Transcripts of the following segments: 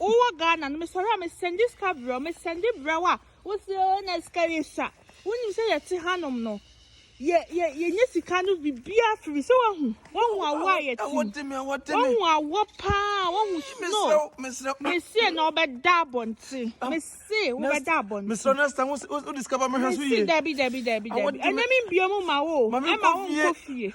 Wo wɔ Ghana no me sɔre a me sɛndi sika brɛ wo me sɛndi brɛ wo a wo se oh na sika yɛ sua wo nim sɛ yɛ te ha nom no yɛ yɛ yɛ nye sika no bi bia firi sɛ wa hu wa hu awɔ a yɛ te mu wa hu awɔ paa wa hu snow me se na ɔbɛ da abɔnte me se wo bɛ da abɔnte me sɔre next time wo se wo discover me hwɛ so yie dabi dabi dabi dabi ɛnɛ mi bio mu ma wo ɛma wo nkɔ fie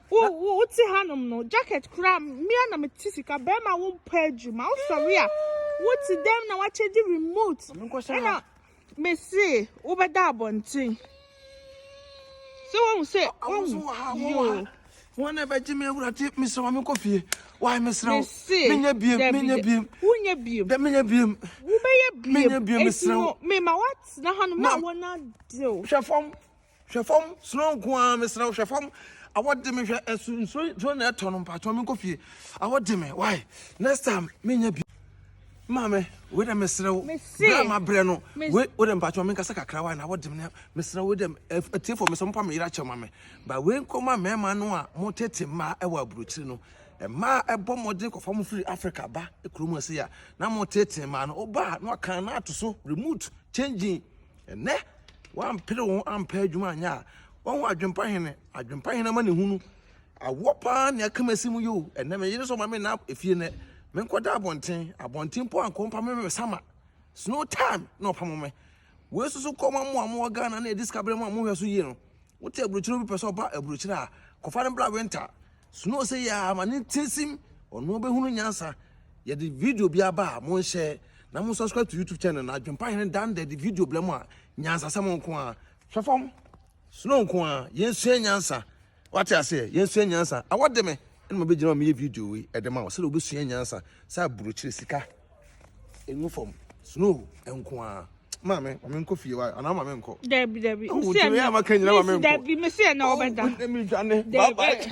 Wo wo wo te hanom no jacket kura mmea na me te sika bɛrima wo mpɛ adwuma wo sɔre a wo te dɛm na wakyɛ di remote ɛna me se wo bɛ da abɔnten sɛ wɔn mu sɛ wɔn mu yoo. Wɔn na ɛbɛgye me awura te me sɛ wɔn mi kɔ fie wae me srɛ wo menyɛ biem menyɛ biem wonyɛ biem dɛ menyɛ biem wobɛyɛ biem menyɛ biem me srɛ wo mema woatena hanom na wɔn adew hwɛ fam Hwɛ fam, suro nko ara, mesrɛ wo, hwɛ fam. Awɔ de me hwɛ, ɛso nsuo nsuo na ɛtɔ no mpatsɔ menkɔ fie. Awɔ de me, why? Next time menyɛ bi. Maame, wei dɛ mesrɛ wo. Mese. Bra ma brɛ no. Mes- Wei wei dɛ mpatsɔ menkasa kakra why na awɔ de me na mesrɛ wo dɛ atiefo mesɛ mo pa me yera kyɛ ma me. Ba wei nkɔ ma mɛɛma no a mo tete mmaa ɛwɔ aburokyire no. Mmaa ɛbɔ mmɔden kɔfa mo firi Africa ba kurom ɛsɛ ya na mo tete mmaa no oba na ɔkan na ato so remote changing. Ɛnnɛ, wɔampere wɔn ampɛ adwuma anyɛ a, wɔn adwempa hene, adwempa hene ama ne hunu. Awoɔ paa ne aka masi mu yoo, ɛnnɛ me yere sɛ ɔma me nna efie nɛ, me nkɔda abɔnten, abɔnten mpo ankɔ mpa me me sama, snow time na ɔpamo me. Wei soso kɔ ma mo a mowɔ Ghana na ɛdi sika berɛ mu a mohwɛ so yie no. Wote aburokyire obi pɛ sɛ ɔba aburokyire a, kɔfa no bra winter. Snow sɛ yɛ ama ne tinsim, ɔno ɔbɛhunu nyansa. Yɛde video bi aba a, monhyɛ na mo subscribe to YouTube channel na Adwempa Hene dan da de video blɛ mo a, nyansasɛm nko a. Hwɛ fam, snow nko a, yɛnsua nyansa. Wate aseɛ, yɛnsua nyansa. Awɔ de me, ɛna mabɛgyina ma meyɛ video wei ɛde ma wo sɛdeɛ wobɛsua nyansa sɛ aburokyire sika. Engu fam. Snow nko a. Maame, maame nkɔ fie wa. Ana maame nkɔ. Dabi dabi. Wo se na. Dabi, me se na obeda. Dabi.